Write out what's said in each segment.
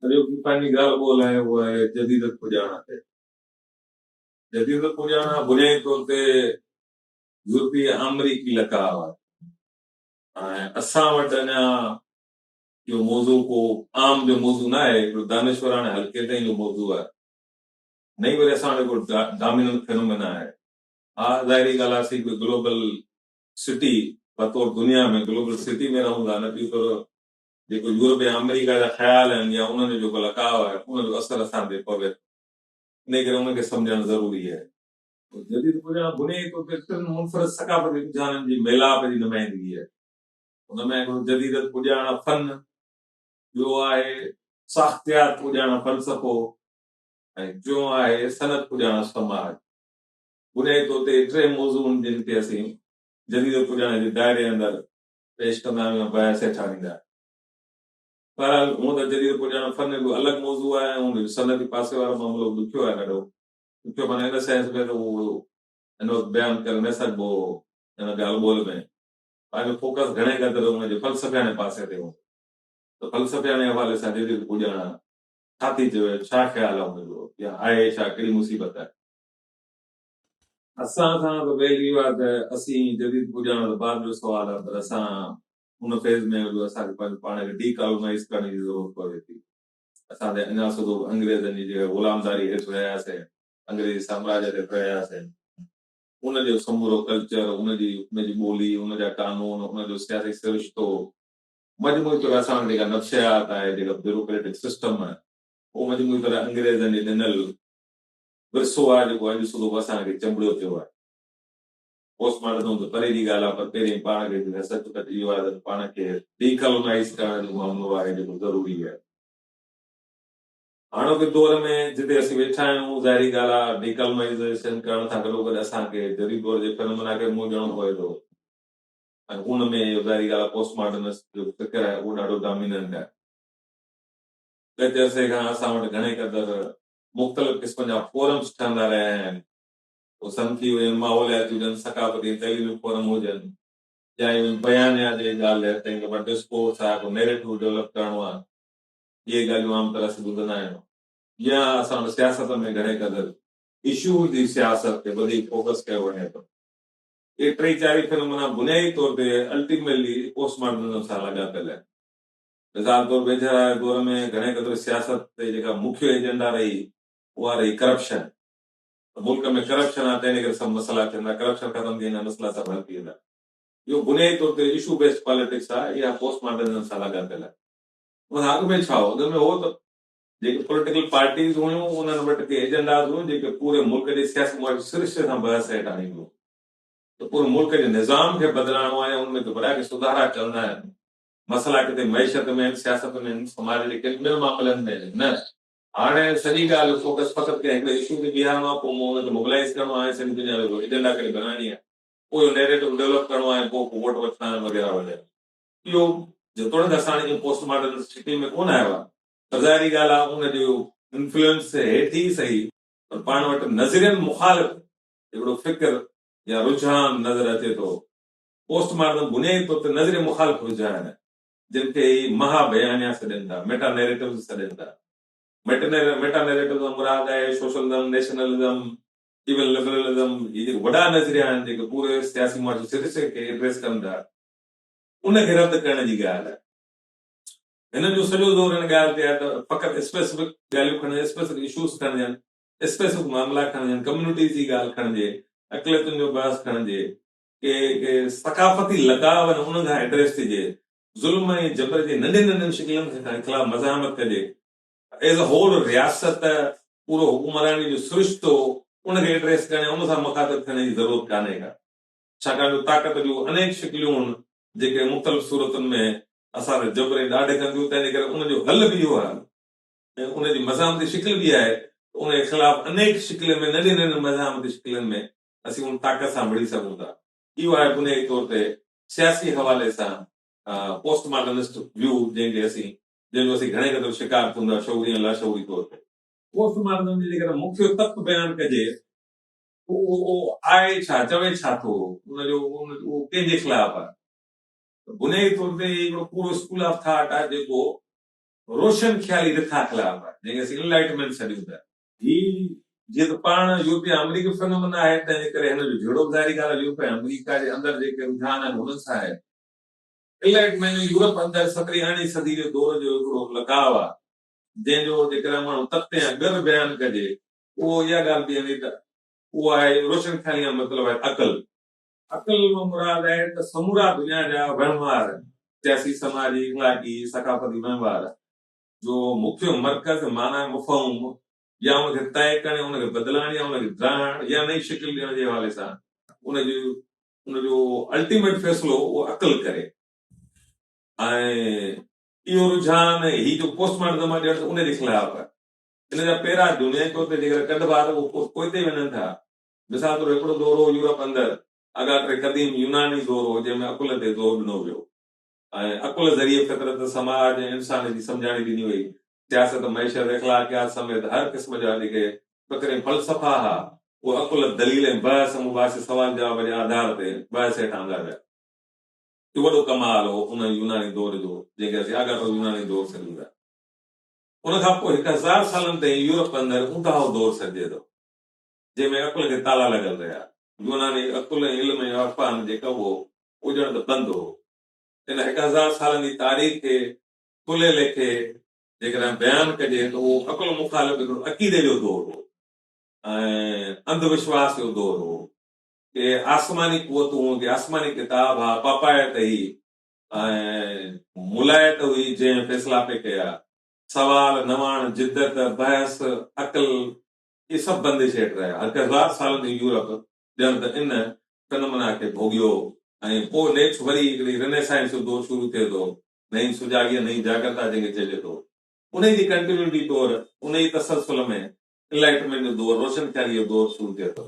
اڄوڪي پنهنجي ڳالهه ٻولهه آهي اها آهي جديدت پڄاڻا تي. جديدت پڄاڻا بنيادي طور تي يورپي ۽ آمريڪي لقاء آهي ۽ اسان وٽ اڃا اهو موضوع ڪو عام جو موضوع نه آهي، هڪڙو دانشوراڻي حلقي تائين جو موضوع آهي. نه ئي وري اسان وٽ هڪڙو ڊاميننٽ فينومينا آهي. ها ظاهري ڳالهه آهي اسين هڪڙي گلوبل سٽي بطور دنيا ۾ گلوبل سٽي ۾ رهون ٿا نه ٻي طرف جيڪو يورپ يا آمريڪا جا خيال آهن يا انهن جو جيڪو لقاء آهي ان جو اثر اسان تي پوي ٿو انهي ڪري ان کي سمجهڻ ضروري آهي. جديد پڄاڻ بنيادي طور تي ٽن منفرد ثقافتي رجحانن جي ميلاپ جي نمائندگي آهي. ان ۾ هڪڙو جديدت پڄاڻ فن، ٻيو آهي ساختيات پڄاڻ فلسفو ۽ ٽيون آهي صنعت پڄاڻ سماج. بنيادي طور تي اهي ٽي موضوع آهن جن کي اسين جديد پڄاڻ جي دائري اندر پيش ڪندا آهيون يا بيان سيٺاريندا آهيون. بهرحال هونء ته جديد پڄاڻپ فن هڪڙو الڳ موضوع آهي ۽ ان جو صنعتي پاسي وارو معاملو به ڏکيو آهي ڏاڍو ڏکيو معنيٰ ان سينس ۾ ته هو هن وقت بيان ڪري نه سگهبو هو ان ڳالهه ٻولهه ۾ پنهنجو فوڪس گهڻي قدر ان جي فلسفياڻي پاسي تي هوندو ته فلسفياڻي حوالي سان جديد پڄاڻپ ڇا ٿي چوي ڇا خيال آهي ان جو يا آهي ڇا ڪهڙي مصيبت آهي. اسان سان ته ويل اهو آهي ته اسين جديد پڄاڻ ته بعد جو سوال آهي پر اسان ان فيز ۾ آهيون جو اسان کي پنهنجو پاڻ کي ڊي ڪالونائيز ڪرڻ جي ضرورت پوي ٿي. اسان ته اڃا سڌو به انگريزن جي جيڪا غلامداري هيٺ رهياسين، انگريزي سامراجيت هيٺ رهياسين، ان جو سمورو ڪلچر، ان جي ان جي ٻولي، ان جا قانون، ان جو سياسي سرشتو، مجموعي طور اسان وٽ جيڪا نفسيات آهي، جيڪا بيوروڪريٽڪ سسٽم آهي، اهو مجموعي طور انگريزن جي ڏنل ورثو آهي جيڪو اڄ صبح به اسان کي چنبڙيو پيو آهي. پوسٽ مارٽم ته پري جي ڳالهه آهي پر پهرين پاڻ کي جيڪا سچ پچ اهو آهي ته پاڻ کي ڊي ڪالونائيز ڪرڻ جو اهو عملو آهي جيڪو ضروري آهي. هاڻوڪي دور ۾ جتي اسين ويٺا آهيون ظاهري ڳالهه آهي ڊي ڪالونائيزيشن ڪرڻ سان گڏوگڏ اسان کي جديد دور جي فينومينا کي به منهن ڏيڻو پوي ٿو ۽ ان ۾ اهو ظاهري ڳالهه آهي پوسٽ مارٽمسٽ جو فڪر آهي اهو ڏاڍو ڊاميننٽ آهي. ڳچ عرصي کان اسان وٽ گهڻي قدر مختلف قسمن جا فورمز ٺهندا رهيا آهن. اهو صنفي هجن، ماحولياتي هجن، ثقافتي ۽ تعليمي فورم هجن يا ايون بيانيا جي ڳالهه رهي ته ان کي ٻه ڊسڪورس آهي ڪو نيريٽو ڊولپ ڪرڻو آهي. اهي ڳالهيون عام طرح سان ٻڌندا آهيون. جيئن اسان وٽ سياست ۾ گهڻي قدر اشوز جي سياست تي وڌيڪ فوڪس ڪيو وڃي ٿو. اهي ٽئي چارئي فنومينا بنيادي طور تي الٽيميلي پوسٽ ماڊرنزم سان لاڳاپيل آهن. مثال طور ويجهه رائي دور ۾ گهڻي قدر سياست تي جيڪا مکيه ايجنڊا رهي اها رهي ڪرپشن ته ملڪ ۾ ڪرپشن آهي تنهن جي ڪري سڀ مسئلا ٿيندا ڪرپشن ختم ٿي ويندي مسئلا سڀ حل ٿي ويندا اهو بنيادي طور تي اشو بيسڊ پاليٽڪس آهي اها پوسٽ ماڊرنزم سان لاڳاپيل آهي ان کان اڳ ۾ ڇا هو اڳ ۾ هو ته جيڪي پوليٽيڪل پارٽيز هيون انهن وٽ ڪي ايجنڊاز هيون جيڪي پوري ملڪ جي سياسي معاشي سرشتي سان بحث هيٺ آڻينديون ته پوري ملڪ جي نظام کي بدلائڻو آهي يا ان ۾ ڪي وڏا ڪي سڌارا چوندا آهن مسئلا ڪٿي معيشت ۾ آهن، سياست ۾ آهن، سماج جي ڪن ٻين معاملن ۾ آهن، نه! هاڻي سڄي ڳالهه فوڪس فقط ڪنهن هڪڙي اشو تي بيهارڻو آهي، پوء ان کي موبلائيز ڪرڻو آهي ۽ سڄي دنيا جو ايجنڊا ڪري بنائڻي آهي، پوء اهو نيريٽو ڊولپ ڪرڻو آهي ۽ پوء ڪو ووٽ وٺڻا آهن وغيره وغيره. اهو جيتوڻيڪ اسان هاڻي ائين پوسٽ ماڊرن سٽي ۾ ڪونه آيو آهي پر ظاهري ڳالهه آهي ان جو انفلوئنس هيٺ ئي سهي پر پاڻ وٽ نظرين مخالف هڪڙو فڪر يا رجحان نظر اچي ٿو، پوسٽ ماڊرن بنيادي طور تي نظريه مخالف رجحان آهن، جن کي ئي مها بيانيا سڏين ٿا، ميٽا نيريٽوز سڏين ٿا. ميٽا نيريٽوز کان مراد آهي سوشلزم، نيشنلزم، ايون لبرلزم، هي جيڪي وڏا نظريا آهن، جيڪي پوري سياسي معاشي سرشتي کي ايڊريس ڪن ٿا، ان کي رد ڪرڻ جي ڳالهه آهي. هنن جو سڄو زور ان ڳالهه تي آهي ته فقط اسپيسفڪ ڳالهيون کڻجن، اسپيسفڪ اشوز کڻجن، اسپيسفڪ معاملا کڻجن، ڪميونٽيز جي ڳالهه کڻجي، اقليتن جو بحث کڻجي، ڪي ڪي ثقافتي لڳاء ۽ انهن کان ايڊريس ٿجي، ظلم ۽ جبر جي ننڍين ننڍين شڪلن کان خلاف مزاحمت ڪجي، ايز اي هول رياست، پورو حڪمراني جو سرشتو، ان کي ايڊريس ڪرڻ يا ان سان مخاطب ٿيڻ جي ضرورت ڪانهي ڪا، ڇاڪاڻ جو طاقت جون انيڪ شڪليون هن جيڪي مختلف صورتن ۾ اسان تي جبر ۽ ڏاڍ ڪن ٿيون، تنهنجي ڪري ان جو حل به اهو آهي ۽ ان جي مزاحمتي شڪل به اها آهي ته ان جي خلاف انيڪ شڪلين ۾ ننڍين ننڍين مزاحمتي شڪلين ۾، اسين ان طاقت سان مڙهي سگهون ٿا. اهو آهي بنيادي طور تي سياسي حوالي سان پوسٽ ماڊرنسٽ ويو جنهن کي اسين جنهن جو اسين گهڻي قدر شڪار ٿيون ٿا شعوري ۽ لاشعوري طور تي. پوسٽ ماڊرنزم جو جيڪڏهن مکيه تت بيان ڪجي ته اهو آهي ڇا، چوي ڇا ٿو، ان جو اهو ڪنهن جي خلاف آهي ته بنيادي طور تي اهي هڪڙو پورو اسڪول آف ٿاٽ آهي جيڪو روشن خيالي رٿا خلاف آهي جنهن کي اسين انلائٽمينٽ سڏيون ٿا. هي جيئن ته پاڻ يورپي ۽ آمريڪي فنامنا آهي، تنهنجي ڪري هن جو جهيڙو به ظاهري ڳالهه آهي، يورپ ۽ آمريڪا جي اندر جيڪي رجحان آهن، هنن سان آهي. الائٽ معني يورپ اندر سترهين ارڙهين صدي جي دور جو هڪڙو لڳاء آهي، جنهن جو جيڪڏهن ماڻهو تتي يا ڳر بيان ڪجي، اهو اها ڳالهه بيهندي ته اهو آهي روشن خيالي يا مطلب آهي عقل. عقل مان مراد آهي ته سمورا دنيا جا وهنوار، سياسي، سماجي، اخلاقي، ثقافتي وهنوار، جو مکيه مرڪز، معنيٰ مفهوم، يا ان کي طئي ڪرڻ، ان کي بدلائڻ يا ان کي ڊاهڻ يا نئين شڪل ڏيڻ جي حوالي سان ان جي ان جو الٽيميٽ فيصلو اهو عقل ڪري ۽ اهو رجحان ۽ هي جو پوسٽ مارٽم مان ڄڻ ته ان جي خلاف آهي. ان جا پيرا دنيائي طور تي جيڪڏهن ڪڍبا ته اهي پوئتي وڃن ٿا. مثال طور هڪڙو دور هو يورپ اندر اڳاٽري قديم يوناني دور هو جنهن ۾ عقل تي زور ڏنو ويو. ۽ عقل ذريعي فطرت، سماج ۽ انسان جي سمجهاڻي ڏني وئي. سياست، معيشت، اخلاقيات سميت هر قسم جا جيڪي فڪري فلسفا ها، اهي عقل، دليل ۽ بحث مباحثي، سوال جواب جي آڌار تي بحث هيٺ آندا ويا. اهو وڏو ڪمال هو ان يوناني دور جو، جنهن کي اسين آڳاٽو يوناني دور سڏيون ٿا. ان کان پوء هڪ هزار سالن تائين يورپ اندر اونڌاهو دور سڏجي ٿو. جنهن ۾ عقل کي تالا لڳل رهيا. يوناني عقل ۽ علم ۽ عرفان جي ڪم هو، اهو ڄڻ ته بند هو. ان هڪ هزار سالن جي تاريخ کي کلي ليکي جيڪڏهن بيان ڪجي ته اهو عقل مخالف هڪڙو عقيدي جو دور هو ۽ انڌ وشواس جو دور هو. ڪي آسماني قوتون هون، ڪي آسماني ڪتاب، ها پاپائيت هئي ۽ ملائيت هئي جنهن فيصلا پئي ڪيا. سوال، نواڻ، جدت، بحث، عقل، اهي سڀ بندش هيٺ رهيا. هڪ هزار سالن جو يورپ ڄڻ ته ان تنمنا کي ڀوڳيو ۽ پوء نيٺ وري هڪڙي رنيسائنس جو دور شروع ٿئي ٿو، نئين سجاڳيء، نئين جاڳرتا جنهن کي چئجي ٿو. انهيء جي ڪنٽينيوٽي طور انهيء ئي تسلسل ۾ انلائٽمينٽ جو دور، روشنخياليء جو دور، شروع ٿئي ٿو.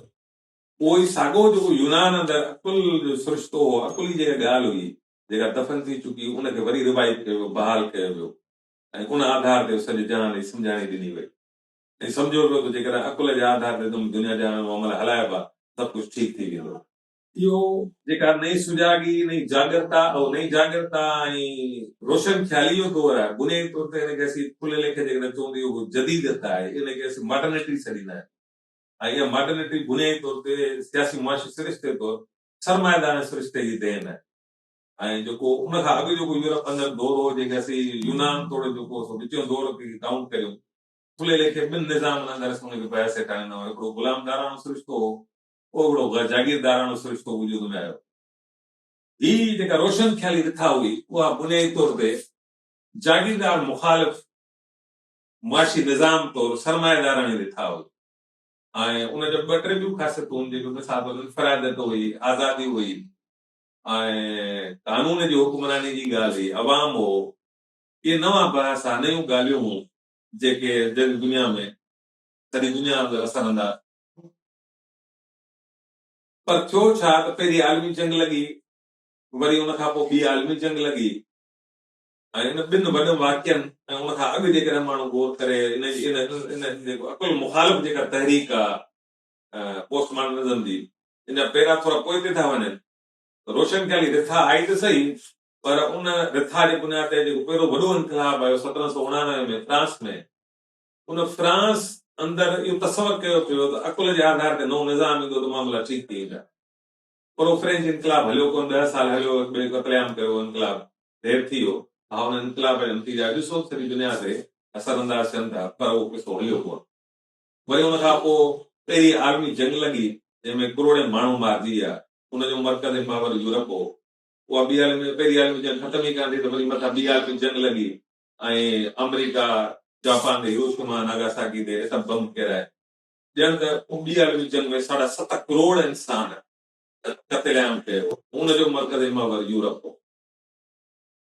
اهو ئي ساڳو جيڪو يونان اندر عقل جو سرشتو هو، عقل ئي جيڪا ڳالهه هئي، جيڪا دفن ٿي چڪي، ان کي وري ريوائيو ڪيو ويو، بحال ڪيو ويو ۽ ان آڌار تي سڄي جهان جي سمجهاڻي ڏني وئي. ائين سمجهيو ويو ته جيڪڏهن عقل جي آڌار تي تم دنيا جهان ۾ عمل هلائبا سڀ ڪجهه ٺيڪ ٿي ويندو. اهو جيڪا نئين سجاڳي، نئين جاڳرتا، اهو نئين جاڳرتا ۽ روشن خيالي جو دور آهي، بنيادي طور تي ان کي اسين کلي ليکي جيڪڏهن چئون ته اهو جديديت آهي، ان کي اسين ماڊرنٽي سڏيندا آهيون ۽ اها ماڊرنٽي بنيادي طور تي سياسي معاشي سرشتي طور سرمائيدارڻ سرشتي جي دين آهي ۽ جيڪو ان کان اڳ جيڪو يورپ اندر دور هو جنهن کي اسين يونان توڙي جيڪو سو وچيون دور ڪائونٽ ڪريون ڦلي ليکي ٻن نظامن اندر اسان ان کي بحث هيٺ آڻيندو آهيان. هڪڙو غلامداراڻو سرشتو هو، پوء هڪڙو جاگيرداراڻو سرشتو وجود ۾ آيو. هي جيڪا روشن خيالي رٿا هئي، اها بنيادي طور تي جاگيردار مخالف معاشي نظام طور سرمائيداراڻي رٿا هئي ۽ ان جون ٻه ٽي ٻيون خاصيتون هيون جيڪي مثال طور انفراديت هئي، آزادي هئي ۽ قانون جي حڪمراني جي ڳالهه هئي، عوام هو. اهي نوان پرياس ها، نيون ڳالهيون هيون، جيڪي جڳ دنيا ۾، سڄي دنيا ۾ وسرندا هيا. پر ٿيو ڇا ته پهرين عالمي جنگ لڳي، وري ان کان پوء ٻي عالمي جنگ لڳي ۽ ان ٻن وڏن واقعن ۽ ان کان اڳ جيڪڏهن ماڻهو غور ڪري ان ان جيڪو عقل مخالف جيڪا تحريڪ آ پوسٽ ماڊرنزم جي، ان جا پيرا ٿورا پوئتي ٿا وڃن. روشن خيالي رٿا آئي ته سهي، پر ان رٿا جي بنياد تي جيڪو پهريون وڏو انقلاب آيو سترهن سؤ اڻاڻوي ۾ فرانس ۾، ان فرانس اندر اهو تصور ڪيو پيو ته عقل جي آڌار تي نئون نظام ايندو ته معاملا ٺيڪ ٿي ويندا. پر اهو فرينچ انقلاب هليو ڪونه، ڏهه سال هليو، هڪ ٻئي قتل عام ڪيو، اهو انقلاب دير ٿي ويو. ها ان انقلاب جا نتيجا اڄ سوچ سڄي دنيا تي اثر انداز ٿين ٿا، پر اهو قصو هليو ڪونه. وري ان کان پوء پهرين عالمي جنگ لڳي، جنهن ۾ ڪروڙين ماڻهو مارجي ويا، ان جو مرڪز ۽ محور يورپ هو. اها ٻي عالمي جنگ پهرين عالمي جنگ ختم ئي ڪانه ٿي ته وري مٿان ٻي عالمي جنگ لڳي ۽ آمريڪا جاپان تي هيروشيما ناگاساڪي تي ايٽم بم ڦيرائي ڄڻ ته ان ٻي عالمي جنگ ۾ ساڍا ست ڪروڙ انسان قتل عام ڪيو هو ان جو مرڪزي محور يورپ هو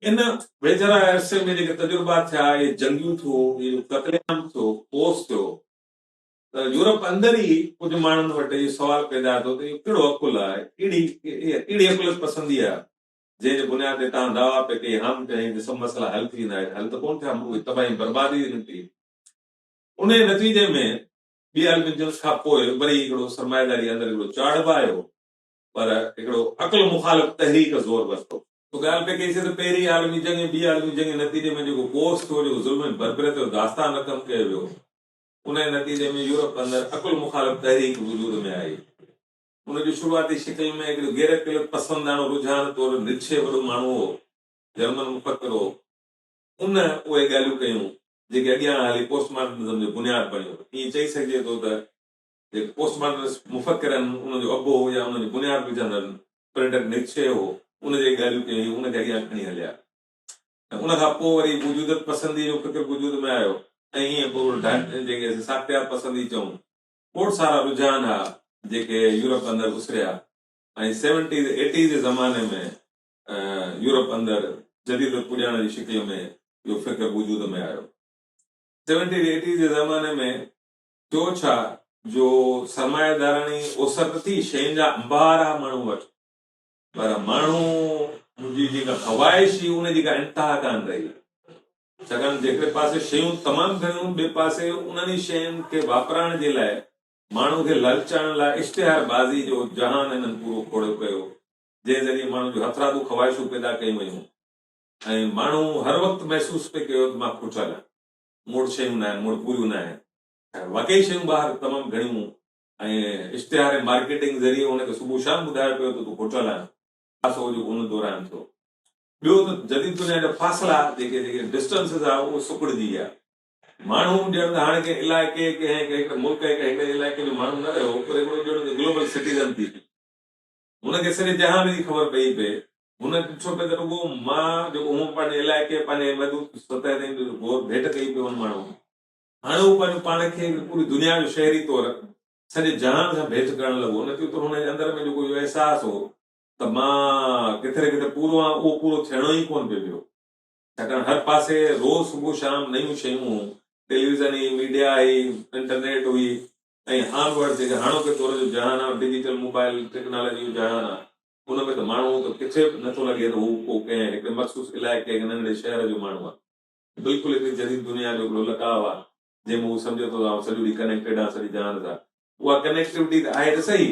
ان ويجهڙائي عرصي ۾ جيڪي تجربا ٿيا اهي جنگيون ٿيو اهو قتل عام ٿيو ڪوس ٿيو ته يورپ اندر ئي ڪجهه ماڻهن وٽ اهو سوال پيدا ٿيو ته اهو ڪهڙو عقل آهي، ڪهڙي ڪهڙي عقليت پسندي آهي، جنهن جي بنياد تي توهان دعويٰ پئي ڪئي هام چيائين ته سڀ مسئلا حل ٿي ويندا، اهي ته حل ته ڪونه ٿيا، ملڪ تباهي ۽ بربادي تي نڪتي. انهيء نتيجي ۾ ٻي عالمي جنگ کان پوء وري هڪڙو سرمائيداري اندر هڪڙو چاڙهه به آيو، پر هڪڙو عقل مخالف تحريڪ زور ورتو. اهو ڳالهه پئي ڪئي سي ته پهرين عالمي جنگ ۽ ٻي عالمي جنگ جي نتيجي ۾ جيڪو ڪوس ٿيو، جيڪو ظلم ۽ بربريت جو داستان رقم ڪيو ويو، انهيء نتيجي ۾ يورپ اندر عقل مخالف تحريڪ وجود ۾ آئي. ان جي شروعاتي شڪل ۾ هڪڙو غير عقليت پسنداڻو رجحان طور نيتشه وڏو ماڻهو هو، جرمن مفڪر هو. ان اهي ڳالهيون ڪيون، جيڪي اڳيان هلي پوسٽ ماڊرنزم جو بنياد بڻيو. ائين چئي سگهجي ٿو ته جيڪي پوسٽ ماڊرنسٽ مفڪر آهن، انهن جو ابو يا انهن جو بنياد وجهندڙ فريڊرڪ نيتشه هو، ان جيڪي ڳالهيون ڪيون، هي ان کي اڳيان کڻي هليا. ان کان پوء وري وجودت پسنديء جو فڪر وجود ۾ آيو ۽ ايئن ٻول ڍنڍ، جنهن کي اسين ساختيات پسندي چئون، کوڙ سارا رجحان ها جيڪي يورپ اندر اسريا ۽ سيونٽيز ايٽيز جي زماني ۾ يورپ اندر جديدت پڄاڻڻ جي شڪل ۾ اهو فڪر وجود ۾ آيو. سيونٽيز ايٽيز جي زماني ۾ ٿيو ڇا جو سرمائيداراڻي اوسر ته ٿي، شين جا انبار ها ماڻهن وٽ، پر ماڻهو جي جيڪا خواهش هئي ان جي ڪا انتها ڪانه رهي ڇاڪاڻ ته هڪڙي پاسي شيون تمام گهڻيون ٻئي پاسي انهن ئي شين کي واپرائڻ جي لاء ماڻهو کي لالچائڻ لاء اشتهار بازي جو جهان هنن پورو کوڙيو ڪيو جنهن ذريعي ماڻهن جون هٿرادو خواهشون پيدا ڪيون ويون ۽ ماڻهو هر وقت محسوس پئي ڪيو ته مان کوٽيل آهيان مون وٽ شيون ناهن مون وٽ پوريون ناهن واقعي شيون ٻاهر تمام گهڻيون ۽ اشتهار ۽ مارڪيٽنگ ذريعي هن کي صبح شام ٻڌايو پيو ته تون هوٽل آهين. خاصو جو ان دوران ٿيو. ٻيو ته جديد دنيا جا فاصلا جيڪي جيڪي Distances آهي اهو سڪڙجي ويا. ماڻهو ڄڻ ته هاڻي ڪنهن علائقي ڪنهن هڪڙي ملڪ ۽ ڪنهن هڪڙي علائقي جو ماڻهو نه رهيو پر هڪڙو ڄڻ ته Global Citizen ٿي پيو. هن کي سڄي جهان جي خبر پئي پئي. هن ڏٺو پئي ته رڳو مان جيڪو هون پنهنجي علائقي پنهنجي محدود سطح تائين غور ڀيٽ ڪئي پيو هن ماڻهوء کي. هاڻي هو پنهنجو پاڻ کي به پوري دنيا جو شهري طور سڄي جهان سان ڀيٽ ڪرڻ لڳو. ان ڪيوته هن جي اندر ۾ جيڪو اهو احساس هو ته مان ڪٿي نه ڪٿي پورو آهيان اهو پورو ٿيڻو ئي ڪونه پئي پيو ڇاڪاڻ هر پاسي روز صبح شام نيون شيون هيون ٽيليويزن هئي ميڊيا هئي انٽرنيٽ هئي ۽ آن ورڊ جيڪي هاڻوڪي دور جو جهان آهي ڊجيٽل موبائل ٽيڪنالاجي جو جهان آهي ان ۾ ته ماڻهو ته ڪٿي به نٿو لڳي ته هو ڪو ڪنهن هڪڙي مخصوص علائقي يا ننڍڙي شهر جو ماڻهو آهي. بلڪل هڪڙي جديد دنيا جو هڪڙو لقاء آ، جنهن ۾ هو سمجهي ٿو ته آئون سڄو ڏينهن ڪنيڪٽيڊ آهيان سڄي جهان سان. اها ڪنيڪٽيوٽي ته آهي ته سهي،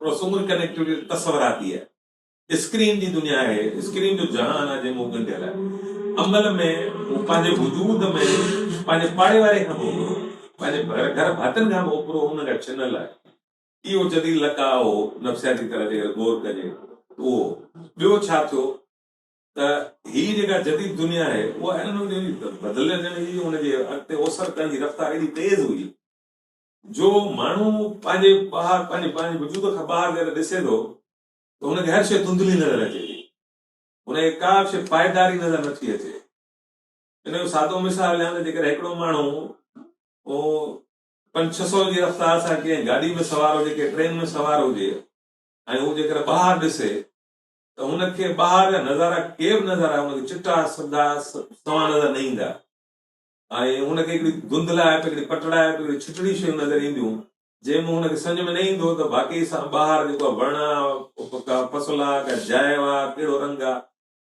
پر اها سموري ڪنيڪٽيوٽي ته تصوراتي آهي. اسڪرين جي دنيا آهي، اسڪرين جو جهان آ، جنهن ۾ هو ڳنڍيل آهي. عمل ۾ هو پنهنجي وجود ۾ پنهنجي پاڙي واري کان به اوپرو، پنهنجي ڀر گهر ڀاتين کان به اوپرو انهن کان ڇنل آهي. اهو جديد لقاء هو، نفسياتي طرح جيڪڏهن غور ڪجي ته اهو هو. ٻيو ڇا ٿيو؟ ته هي جيڪا جديد دنيا آهي اها انهن وقتن جي بدلجندڙ هئي ۽ ان جي اڳتي اوسر ڪرڻ جي رفتار ايڏي تيز هئي جو ماڻهو پنهنجي ٻاهر پنهنجي پنهنجي وجود کان ٻاهر جڏهن ڏسي ٿو ته هن کي هر شيء ڌنڌلي نظر اچي ٿي هن کي ڪا به شيء پائيداري نظر نٿي اچي ان جو سادو مثال ڏيان ته جيڪڏهن هڪڙو ماڻهو پنج ڇهه سو جي رفتار سان ڪنهن گاڏي ۾ سوار هجي ڪنهن ٽرين ۾ سوار هجي ۽ هو جيڪڏهن ٻاهر ڏسي ته هن کي ٻاهر جا نظارا ڪي به نظر آيا هن کي چٽا سڌا سنئون نظر نه ايندا ۽ هن کي هڪڙي ڌنڌلائپ هڪڙي پٽڙائپ هڪڙي ڇٽڙي شيون نظر اينديون جنهن مان هن کي سمجهه ۾ نه ايندو هو ته واقعي سان ٻاهر جيڪو آ وڻ آ ڪا فصل آ ڪا جاء آ ڪهڙو رنگ آ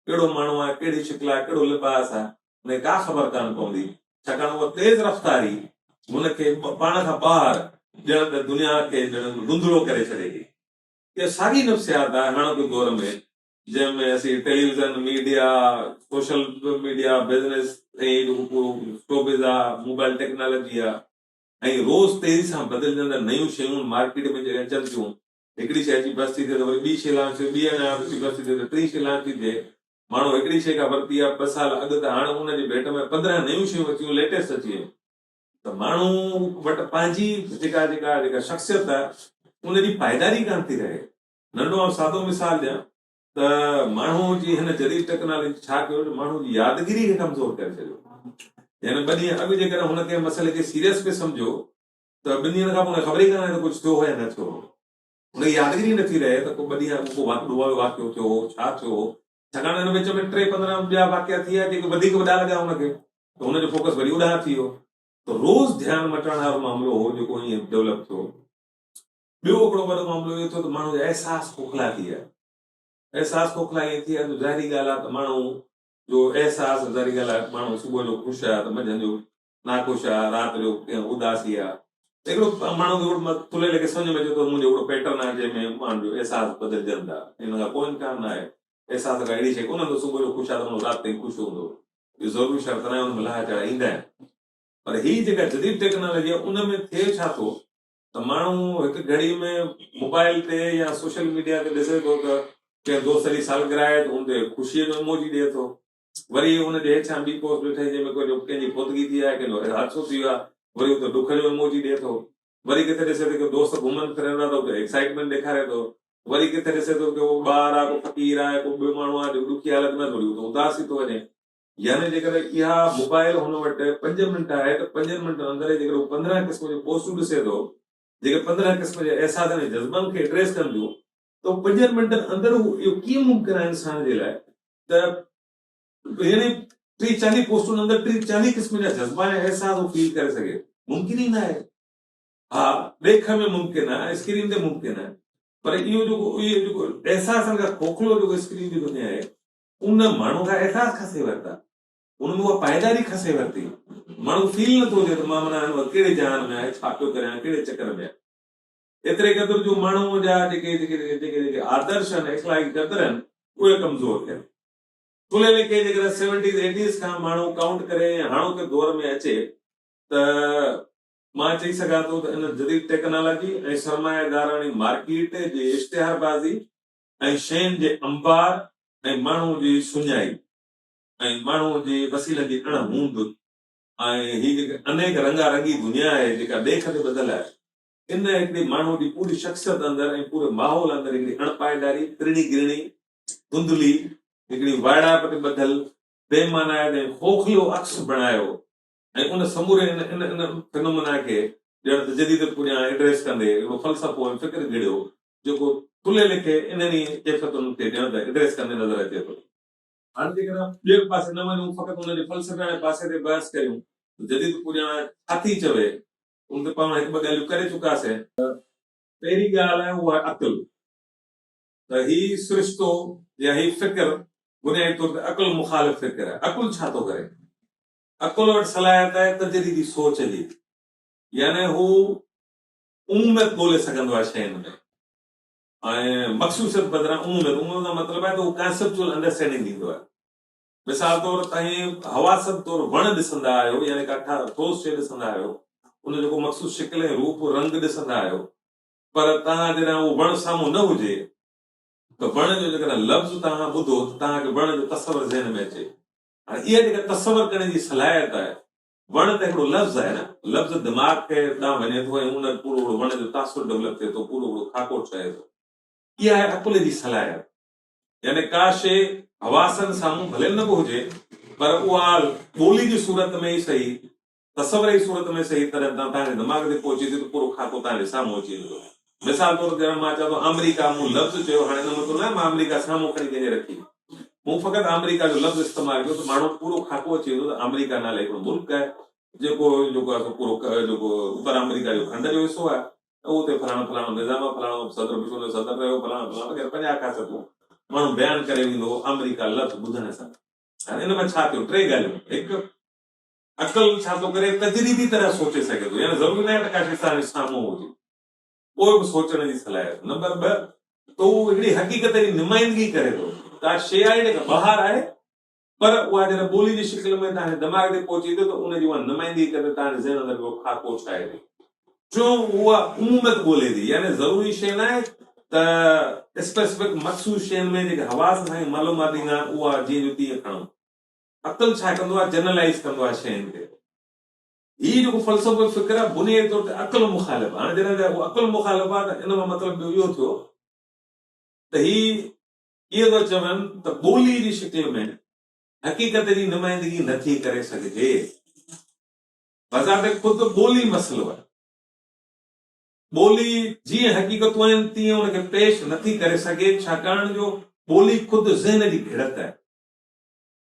ڪهڙو ماڻهو آ ڪهڙي شڪل آ ڪهڙو لباس آ هن کي ڪا خبر ڪانه پوندي ڇاڪاڻ اها تيز رفتاري هن کي پاڻ کان ٻاهر ڄڻ ته دنيا کي ڄڻ ڌنڌلو ڪري ڇڏي ٿي اها ساڳي نفسيات آهي هاڻوڪي دور ۾ جنهن ۾ اسين television, media, social media, business ۽ showbiz آ، موبائل ٽيڪنالاجي آ ۽ روز تيزي سان بدلجندڙ نيون شيون مارڪيٽ ۾ جڏهن اچن ٿيون، هڪڙي شي اچي بس ٿي ٿئي ته وري ٻي شي لانچ ٿئي، ٻي اڃا اچي بس ٿي ٿئي ته ٽين شي لانچ ٿي ٿئي. ماڻهو هڪڙي شي ڪا ورتي آ ٻه سال اڳ ته هاڻ ان جي ڀيٽ ۾ پندرهن نيون شيون اچي ويون، ليٽيسٽ اچي ويون. ته ماڻهو وٽ پنهنجي جيڪا جيڪا جيڪا شخصيت آهي ان جي پائيداري ڪانه ٿي رهي. ننڍو آئون سادو مثال ڏيان ته ماڻهو جي هن جديد ٽيڪنالاجي ڇا ڪيو جو ماڻهو جي يادگيري کي ڪمزور ڪري ڇڏيو. يعني ٻه ڏينهن اڳ جيڪڏهن هن ڪنهن مسئلي کي سيريس پئي سمجهيو ته ٻن ڏينهن کان پوء ان کي خبر ئي ڪانه رهي ته ڪجهه ٿيو هو يا نه ٿيو هو. ان کي يادگيري ئي نه ٿي رهي ته ڪو ٻه ڏينهن اڳ ڪو واقعو ڏوهه جو واقعو ٿيو هو، ڇا ٿيو هو، ڇاڪاڻ ته هن وچ ۾ ٽي پندرهن ٻيا واقعا ٿيا جيڪي وڌيڪ وڏا لڳا هن کي ته هن جو فوڪس وري اوڏانهن ٿي ويو ته روز ڌيان مٽڻ هارو معاملو هو جيڪو ائين ڊولپ ٿيو. ٻيو هڪڙو وڏو معاملو اهو ٿيو ته ماڻهو جا احساس کوکلا ٿي ويا. احساس کوکلا ائين ٿي ويا جو ظاهري ڳالهه آهي ته ماڻهو جو احساس ظاهري ڳالهه آهي ماڻهو صبح جو خوش آهي ته منجهند جو ناخوش آ، رات جو اداسي آ. هڪڙو ماڻهو کي هڪڙو ٿلهي لکي سمجهه ۾ اچي ٿو، منهنجو هڪڙو پيٽرن آهي جنهن ۾ ماڻهن جو احساس بدلجن ٿا. ان کان ڪو امڪان نه آهي. احساس ڪا اهڙي شيء ڪونه هوندي، صبح جو خوش آ ته ماڻهو رات تائين خوش هوندو. اهو ضروري شرط ناهي، ان ۾ لاهه چڙهه ايندا آهن. پر هي جيڪا جديد ٽيڪنالاجي آ، ان ۾ ٿئي ڇا ٿو ته ماڻهو هڪ گهڙي ۾ موبائل تي يا سوشل ميڊيا تي ڏسي ٿو ته ڪنهن دوست جي سالگرهه آهي ته ان تي خوشيء جو ايموجي ڏئي ٿو. وري ان جي هيٺيان ٻي پوسٽ به ٺهي جنهن ۾ ڪجهه ڪنهن جي فوتگي ٿي آهي ڪنهن جو حادثو ٿي ويو آهي وري هو ته ڏکڙيو ايموجي ڏئي ٿو وري ڪٿي ڏسي ٿو ڪو دوست گهمن ڦرن ٿا ته هو ته ايڪسائٽمينٽ ڏيکاري ٿو وري ڪٿي ڏسي ٿو ڪو ٻار آهي ڪو فقير آهي ڪو ٻيو ماڻهو آهي جيڪو ڏکي حالت ۾ آهي ته وري هو ته اداس ٿي ٿو وڃي يعني جيڪڏهن اها موبائل هن وٽ پنج منٽ آهي ته پنجن منٽن اندر ئي جيڪڏهن هو پندرهن قسم جون پوسٽون ڏسي ٿو جيڪي پندرهن قسم جي احساسن ۽ جذبن کي ايڊريس ڪن ٿيون تو پنجن منٽن اندر هو اهو ڪيئن ممڪن آهي انسان جي لاء ته يعني ٽي چاليهه پوسٽن اندر ٽي چاليهه قسم جا جذبا يا احساس هو فيل ڪري سگهي ممڪن ئي نه آهي ها ڏيک ۾ ممڪن آهي اسڪرين تي ممڪن آهي پر اهو جيڪو اهو جيڪو احساسن کان کوکلو جيڪو اسڪرين جي دنيا آهي ان ماڻهو کان احساس کسي ورتا ان ۾ اها پائيداري کسي ورتي ماڻهو فيل نٿو ٿئي ته مان مانا هن وقت ڪهڙي جهان ۾ آهي ڇا پيو ڪريان ڪهڙي چڪر ۾ آهي ايتري قدر جو ماڻهوء جا جيڪي جيڪي جيڪي جيڪي جيڪي آدرش آهن، اخلاقي قدر آهن، اهي ڪمزور ٿيا. ٿلهي ليکي جيڪڏهن سيونٽيز ايٽيز کان ماڻهو ڪائونٽ ڪري ۽ هاڻوڪي دور ۾ اچي ته مان چئي سگهان ٿو ته ان جديد ٽيڪنالاجي ۽ سرمايداراڻي مارڪيٽ جي اشتهاربازي ۽ شين جي انبار ۽ ماڻهوء جي سڃائي ۽ ماڻهوء جي وسيلن جي اڻ هوند ۽ هي جيڪي انيڪ رنگا رنگي دنيا آهي جيڪا ڏيک تي ٻڌل آهي، ان هڪڙي ماڻهوء جي پوري شخصيت اندر ۽ پوري ماحول اندر هڪڙي اڻپائيداري، ترڻي گرڻي، ڌنڌلي، هڪڙي وائڙائپ تي ٻڌل، بي معنائت ۽ خوخلو عڪس بڻايو ۽ ان سموري ان ان ان فنومنا کي ڄڻ ته جديديت پڄيان ايڊريس ڪندي هڪڙو فلسفو ۽ فڪر گهڙيو، جيڪو ٿلهي لکي انهن ئي ڪيفيتن کي ڄڻ ته ايڊريس ڪندي نظر اچي ٿو. هاڻ جيڪڏهن ٻئي پاسي نه وڃون، فقط ان جي فلسفياڻي پاسي تي بحث ڪريون ته جديد پڄيان ڇا ٿي چوي، ان تي پاڻ هڪ ٻه ڳالهيون ڪري چڪا سين. پهرين ڳالهه آهي اها آهي عقل ته هي سرشتو يا هي فڪر بنيادي طور تي عقل مخالف فڪر آهي. عقل ڇا ٿو ڪري؟ عقل وٽ صلاحيت آهي تجريدي سوچ جي يعني هو عموميت ڳولي سگهندو آهي شين ۾ ۽ مخصوصيت بدران عموميت عموميت کان مطلب آهي ته هو ڪانسيپچوئل انڊرسٽينڊنگ ڏيندو آهي. مثال طور توهين حواسن طور وڻ ڏسندا آهيو يعني ڪا ٺوس شيء ڏسندا آهيو، ان جو ڪو مخصوص شڪل ۽ روپ، رنگ، ڏسندا آهيو پر توهان جڏهن اهو وڻ سامهون نه هجي ته وڻ جو جيڪڏهن لفظ توهان ٻڌو ته توهان کي وڻ جو تصور ذهن ۾ اچي. هاڻي اها جيڪا تصور ڪرڻ جي صلاحيت آهي، وڻ ته هڪڙو لفظ آهي نه، لفظ دماغ کي ڏانهن وڃي ٿو ۽ ان پورو هڪڙو وڻ جو تاثر ڊولپ ٿئي ٿو، پورو هڪڙو خاڪو ٺهي ٿو. اها آهي عقل جي صلاحيت. يعني ڪا شيء حواسن سامهون ڀلي نه به هجي پر اها ٻولي جي صورت ۾ ئي سهي، تصور جي صورت ۾ سهي تڏهن تان تهان جي دماغ تي پهچي ٿي ته پورو خاڪو تهان جي سامهون اچي ويندو آهي. مثال طور ڄڻ مان چوان ٿو آمريڪا، مون لفظ چيو، هاڻي ان مطلب ناهي مان آمريڪا سامهون کڻي ڪنهن جي رکي، مون فقط آمريڪا جو لفظ استعمال ڪيو ته ماڻهو پورو خاڪو اچي ويندو ته آمريڪا نالي هڪڙو ملڪ آهي جيڪو جيڪو آهي سو پورو جيڪو اوڀر آمريڪا جو کنڊ جو حصو آهي. ته اتي فلاڻو فلاڻو نظام آهي، فلاڻو صدر بش ان جو صدر رهيو، فلاڻو فلاڻو وغيره پنجاهه خاصيتون ماڻهو بيان ڪري ويندو هو آمريڪا لفظ ٻڌڻ سان. هاڻي ان ۾ ڇا ٿيو ٽي ڳالهيون هڪ عقل ڇا ٿو ڪري تجريدي طرح سوچي سگهي ٿو يعني ضروري ناهي ته ڪا شي سامهون سامهون هجي پوء به سوچڻ جي صلاحيت نمبر ٻه ته هو هڪڙي حقيقت جي نمائندگي ڪري ٿو ڪا شي آهي جيڪا ٻاهر آهي پر اها جڏهن ٻولي جي شڪل ۾ تهاڻي دماغ تي پهچي ٿي ته ان جي اها نمائندي هڪ ته تهاڻي ذهن اندر ڪو خاڪو ڇائي ٿي. ٽيون اها عموميت ڳولي ٿي يعني ضروري شيء ناهي ته اسپيسفڪ مخصوص شين ۾ جيڪي حواس اسان کي معلومات ڏيندا آهن اها جيئن جو تيئن کڻون. عقل ڇا ڪندو آهي جنرلائيز ڪندو آهي شين کي. هي جيڪو فلسفوي فڪر آهي بنيادي طور تي عقل مخالف آهي. هاڻي جڏهن ته اهو عقل مخالف آهي ته ان مان مطلب ٻيو اهو ٿيو ته هي اهو ٿو چون ته ٻوليء جي شڪل ۾ حقيقت جي نمائندگي نه ٿي ڪري سگهجي. بذات خود ٻولي مسئلو آهي. ٻولي جيئن حقيقتون آهن تيئن ان کي پيش نه ٿي ڪري سگهي ڇاڪاڻ جو ٻولي خود ذهن جي گهڙت آهي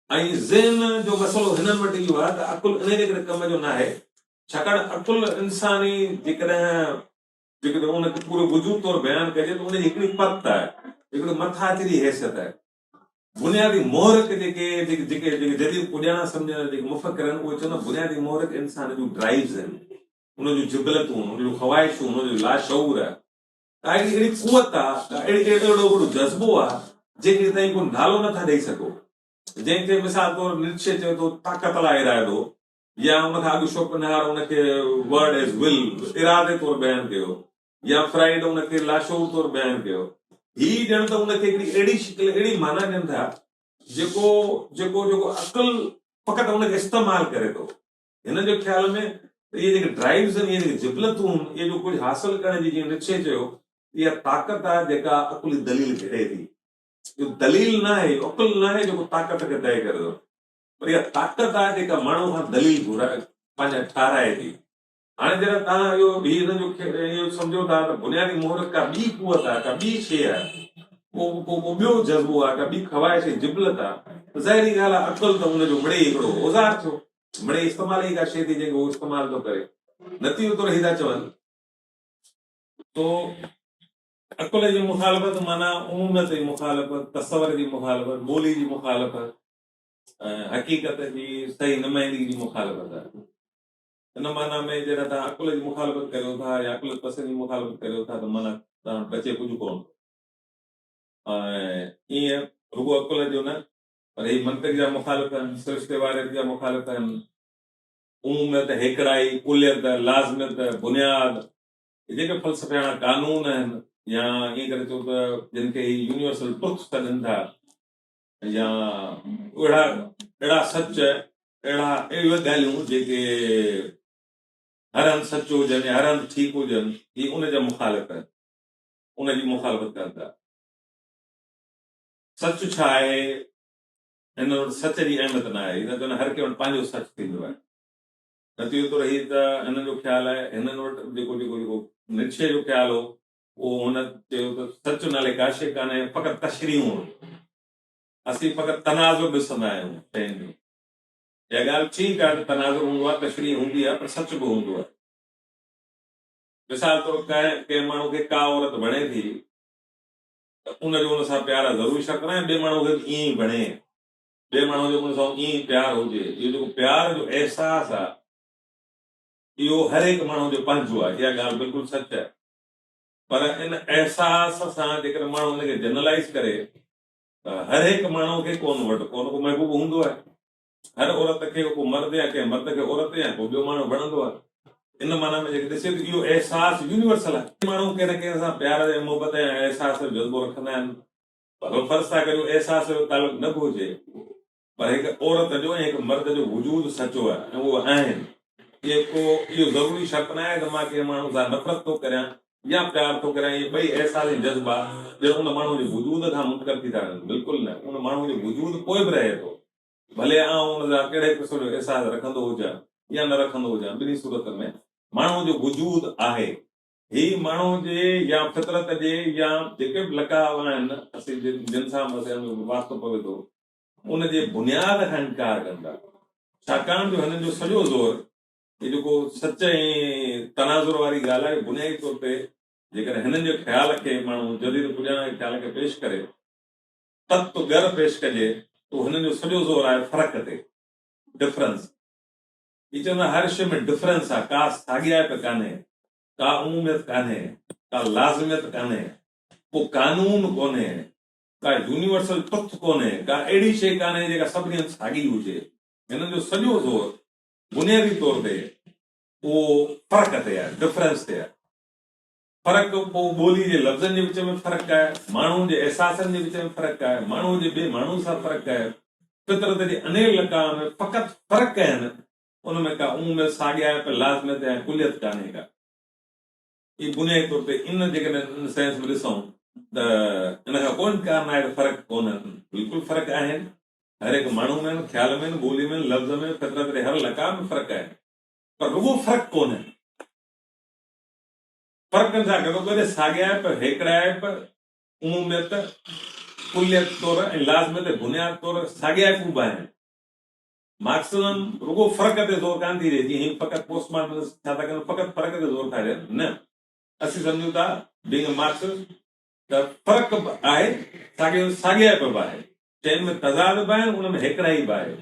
۽ ذهن جو مسئلو هنن وٽ اهو آهي ته عقل انهيء جي ڪري ڪم جو ناهي ڇاڪاڻ عقل انساني جيڪڏهن جيڪڏهن ان کي پوري وجود طور بيان ڪجي ته ان جي هڪڙي پت آهي، هڪڙي مٿاڇري جي حيثيت آهي. بنيادي محرڪ جيڪي جيڪي جيڪي جديد پڄاڻا سمجهندڙ جيڪي مفڪر آهن اهي چوندا بنيادي محرڪ انسان جون ڊرائيوز آهن، ان جون جبلتون، ان جون خواهشون، ان جو لاشعور آهي. ڪا هڪڙي اهڙي قوت آهي، ڪا اهڙي اهڙو اهڙو جذبو آهي جنهن کي توهين ڪو نالو نه ٿا ڏئي سگهو، جنهن کي مثال طور نٽشي چوي ٿو طاقت لا ارادو. يا ان کان اڳ شوپنهائر ان کي ورڊ ايز ول، ارادي طور بيان ڪيو، يا فرائيڊ ان کي لاشعور طور بيان ڪيو. هي ڄڻ ته ان کي هڪڙي اهڙي شڪل، اهڙي معنيٰ ڏين ٿا، جيڪو، جيڪو، جيڪو عقل فقط ان کي استعمال ڪري ٿو. هنن جي خيال ۾ ته اهي جيڪي ڊرائيوز آهن، اهي جيڪي جبلتون هن، اهي جو ڪجهه حاصل ڪرڻ جي، جيئن نٽشي چيو، اها طاقت آهي جيڪا عقلي دليل گهڙي ٿي. اهو دليل ناهي، اهو عقل ناهي جيڪو طاقت کي طئي ڪري ٿو. پر اها طاقت آهي جيڪا ماڻهو کان دليل گهرائي پنهنجا ٺهرائي ٿي. هاڻي جڏهن توهان اهو هي ان جو اهو سمجهو ٿا ته بنيادي محرڪ ڪا ٻي قوت آهي، ڪا ٻي شيء آهي، ڪو ڪو ڪو ٻيو جذبو آهي، ڪا ٻي خواهش ۽ جبلت آهي ته ظاهري ڳالهه آهي عقل ته ان جو مڙئي هڪڙو اوزار ٿيو. مڙئي استعمال ئي ڪا شيء ٿي جنهن کي هو استعمال ٿو ڪري. نتيجي طور هي ٿا چون. سو عقل جي مخالفت معنيٰ اموميت جي مخالفت، تصور جي مخالفت، ٻولي جي مخالفت، حقيقت جي صحيح نمائندگي جي مخالفت آهي. ان معنيٰ ۾ جڏهن توهان عقل جي مخالفت ڪريو ٿا يا عقل پسندي جي مخالفت ڪريو ٿا ته معنيٰ توهان بچي ڪجهه ڪونه ٿو. ۽ ايئن رڳو عقل جو نه پر هي منطق جا مخالف آهن، سرشتي واريت جا مخالف آهن، عموميت، هيڪڙائي، ڪليت، لازميت، بنياد، هي جيڪي فلسفياڻا قانون آهن يا ائين ڪري چئون ته جن کي هي يونيورسل ٽروٿ سڏين ٿا، يا اهڙا اهڙا سچ اهڙا اهڙيون ڳالهيون جيڪي هر هنڌ سچ هجن يا هر هنڌ ٺيڪ هجن هي ان جا مخالف آهن ان جي مخالفت ڪن ٿا سچ ڇا آهي هن وٽ سچ جي اهميت نه آهي هن چون هر ڪنهن وٽ پنهنجو سچ ٿيندو آهي نتيجو تو رهي ته هنن جو خيال آهي هنن وٽ جيڪو جيڪو جيڪو نٽشي جو خيال هو پوء هن چيو ته سچ نالي ڪا شيء ڪانهي ۽ فقط تشريحون هونديون. اسين فقط تناظر ڏسندا آهيون شين جو. اها ڳالهه ٺيڪ آهي ته تناظر هوندو آهي، تشريح هوندي آهي پر سچ به هوندو آهي. مثال طور ڪنهن ڪنهن ماڻهو کي ڪا عورت وڻي ٿي ته ان جو ان سان پيار ضرور شرط ناهي ٻئي ماڻهو کي به ائين ئي وڻي. ٻئي ماڻهو جو ان سان ائين ئي پيار هجي. اهو جيڪو پيار جو احساس آهي اهو هر هڪ ماڻهو جو پنهنجو آهي. اها ڳالهه بلڪل سچ آهي. پر ان احساس سان جيڪڏهن ماڻهو ان کي جنرلائيز ڪري ته هر هڪ ماڻهو کي ڪو نه وٽ ڪو نه ڪو محبوب هوندو آهي. هر عورت کي ڪو مرد يا ڪنهن مرد کي عورت يا ڪو ٻيو ماڻهو وڻندو آهي. ان معنيٰ ۾ جيڪڏهن ڏسي ته اهو احساس يونيورسل آهي. ماڻهو ڪنهن نه ڪنهن سان پيار يا محبت يا احساس جو جذبو رکندا آهن. ڀلو فرض ٿا ڪريون احساس جو تعلق نه به هجي پر هڪ عورت جو ۽ هڪ مرد جو وجود سچو آهي ۽ اهي آهن. اهي ڪو اهو ضروري شرط ناهي ته مان ڪنهن ماڻهو سان نفرت ٿو ڪريان يا پيار ٿو ڪريان. اهي ٻئي احساس ۽ جذبا ڄڻ ان ماڻهو جي وجود کان منڪر ٿي ٿا وڃن. بلڪل نه، ان ماڻهو جو وجود پوء به رهي ٿو. ڀلي آئون ان جا ڪهڙي قسم جو احساس رکندو هجان يا نه رکندو هجان، ٻنهي صورتن ۾ ماڻهو جو وجود آهي. هي ماڻهو جي يا فطرت جي يا جيڪي به لقاء آهن، اسين جن سان به اسان جو واسطو پوي ٿو، ان جي بنياد کان انڪار ڪن ٿا، ڇاڪاڻ جو هنن جو سڄو زور هي جيڪو سچ ۽ تناظر واري ڳالهه آهي، بنيادي طور تي جيڪڏهن هنن جي خيال کي ماڻهو جديد پڄاڻان جي خيال کي پيش ڪري، تت ڳر پيش ڪجي ته هنن جو سڄو زور آهي فرق تي، Difference. هي چوندا هر شيء ۾ ڊفرنس آهي، ڪا ساڳيائپ ڪانهي، ڪا عموميت ڪانهي، ڪا لازميت ڪانهي، ڪو قانون ڪونهي، ڪا يونيورسل ٽروٿ ڪونهي، ڪا اهڙي شيء ڪانهي جيڪا سڀني هنڌ ساڳي هجي. هنن جو سڄو زور بنيادي طور تي اهو فرق تي آهي، Difference، تي آهي. فرق پوء ٻولي جي لفظن جي وچ ۾ فرق آهي، ماڻهوء جي احساسن جي وچ ۾ فرق آهي، ماڻهوء جي ٻئي ماڻهوء سان فرق آهي. فطرت جي انهيء لقاء ۾ فقط فرق آهن، ان ۾ ڪا عموميت، ساڳيائپ، لازميت يا ڪليت ڪانهي ڪا. اهي بنيادي طور تي ان جيڪڏهن ان سينس ۾ ڏسون ته ان کان ڪو انڪار ناهي ته فرق ڪونهن، بلڪل فرق آهن، هر هڪ ماڻهو ۾ آهن، خيال ۾ آهن، ٻولي ۾ آهن، لفظ ۾، فطرت ڏي، هر لقاء ۾ فرق آهن، پر رڳو فرق ڪونهن. فرقن سان گڏو گڏ ساڳيائپ، هيڪڙائپ، عموميت، ڪليت طور ۽ لازميت بنياد طور ساڳيائپون به آهن. مارڪسزم رڳو فرق تي زور ڪانه ٿي ڏئي، جيئن هي فقط پوسٽ مارٽنسٽ ڇا ٿا ڪن، فقط فرق تي زور ٿا ڏين، نه، اسين سمجهون ٿا، بينگ اي مارڪسسٽ، ته فرق به آهي، ساڳيء ۾ ساڳيائپ به آهي، شين ۾ تضاد به آهن، ان ۾ هيڪڙائي به آهي.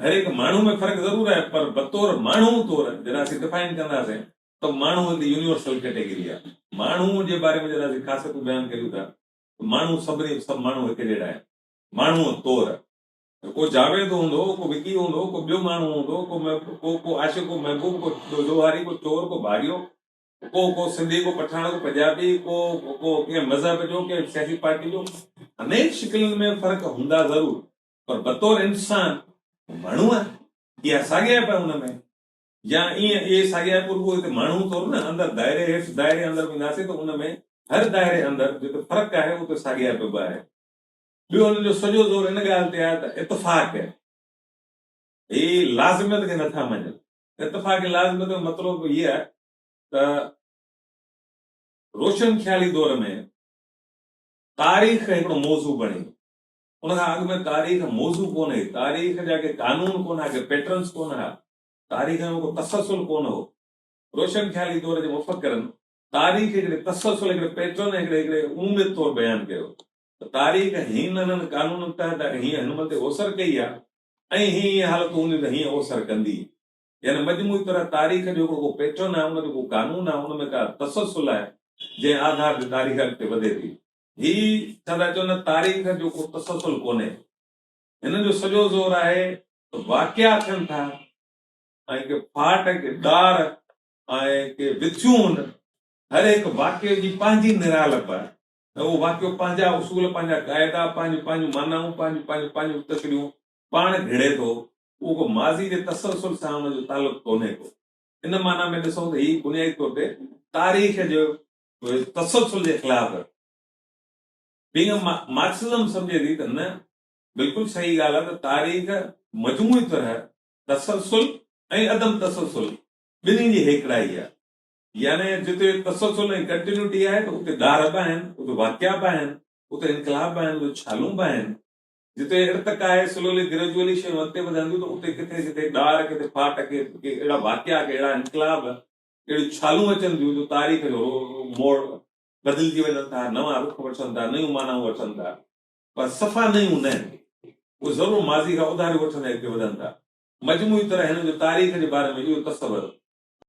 هر هڪ ماڻهو ۾ فرق ضرور آهي، پر بطور ماڻهو طور جڏهن اسين ڊفائن ڪنداسين ته ماڻهو هڪ يونيورسل ڪيٽيگري آهي. ماڻهو جي باري ۾ جڏهن اسين خاصيتون بيان ڪريون ٿا ته ماڻهو سڀني سڀ ماڻهو هڪ جهڙا آهن، ماڻهوء طور. ڪو جاويد هوندو، ڪو وڪي هوندو، ڪو ٻيو ماڻهو هوندو، ڪو ڪو ڪو عاشق، ڪو محبوب، ڪو ڏوهاري، ڪو چور، ڪو ڀاڳيو، ڪو ڪو سنڌي، ڪو پٺاڻ، ڪو پنجابي، ڪو ڪو ڪنهن مذهب جو، ڪنهن سياسي پارٽي جو. انهين شڪلن ۾ فرق هوندا ضرور پر بطور انسان هو ماڻهو آهي. اها ساڳيائپ آهي ان ۾. يا ائين اهي ساڳيائپ رڳو هتي ماڻهو طور نه اندر دائري هيٺ دائري اندر وينداسين ته ان ۾ هر دائري اندر جتي فرق آهي اتي ساڳيائپ به آهي. ٻيو هن جو سڄو زور ان ڳالهه تي آهي ته اتفاق هي لازميت کي نه ٿا مڃن. اتفاق لازميت جو مطلب به هي آهي ته روشن خيالي دور ۾ تاريخ هڪڙو موضوع بڻي ويو. ان کان اڳ ۾ تاريخ موضوع ڪونه هئي. تاريخ جا ڪي قانون ڪونه ها، ڪي پيٽرنز ڪونه ها. تاريخ ۾ ڪو تسلسل ڪونه هو. روشن خيالي دور جي مفڪرن تاريخ هڪڙي تسلسل، هڪڙي پيٽرن ۽ هڪڙي عموميت طور بيان ڪيو. ته تاريخ هين انهن قانونن تحت اگر هيئن هن متي اوسر ڪئي آهي ۽ هي ايئن حالتون هونديون ته هيئن اوسر ڪندي. يعني مجموعي طرح تاريخ جو هڪڙو ڪو پيٽرن آهي، ان جو ڪو قانون آهي، ان ۾ ڪا تسلسل آهي، جنهن آڌار تي تاريخ اڳتي وڌي ٿي. هي ڇا ٿا چون نه تاريخ جو ڪو تسلسل ڪونهي. هنن جو سڄو زور آهي ته واقعا ٿين ٿا ۽ ڪي ڦاٽ، ڪي ڏار ۽ ڪي وٿيون هن هر هڪ واقعي جي پنهنجي نرالپ آهي. ۽ اهو واقعو پنهنجا اصول، پنهنجا قاعدا، پنهنجون پنهنجون معنائون، پنهنجون پنهنجون پنهنجون تڪڙيون پاڻ گهڙي ٿو، اهو ڪو ماضي جي تسلسل سان ان جو تعلق ڪونهي ڪو. ان معنيٰ ۾ ڏسون ته هي بنيادي طور تي تاريخ جي تسلسل جي خلاف رهندو. بينگ مارڪسزم سمجهي ٿي ته نه، بلڪل صحيح ڳالهه آهي ته تاريخ مجموعي طرح تسلسل ۽ عدم تسلسل ٻنهي جي هيڪڙائي آهي. يعني جتي تسلسل ۽ ڪنٽينيوٽي آهي ته اتي ڏار به آهن، اتي واقعا به آهن، اتي انقلاب به آهن، اتي ڇالون به آهن. جتي ارتقا آهي، سلولي گريجوئلي شيون اڳتي وڌن ٿيون ته اتي ڪٿي ڪٿي ڏار، ڪٿي ڦاٽ، ڪي اهڙا واقعا، ڪي اهڙا انقلاب، اهڙيون ڇالون اچن ٿيون جو تاريخ جو موڙ بدلجي وڃن ٿا، نوان رخ وٺن ٿا، نيون معنائون وٺن ٿا. پر صفا نيون نه، اهي ضرور ماضي کان اوڌاريون وٺندي اڳتي وڌن ٿا. مجموعي طرح هن جو تاريخ جي باري ۾ اهو تصور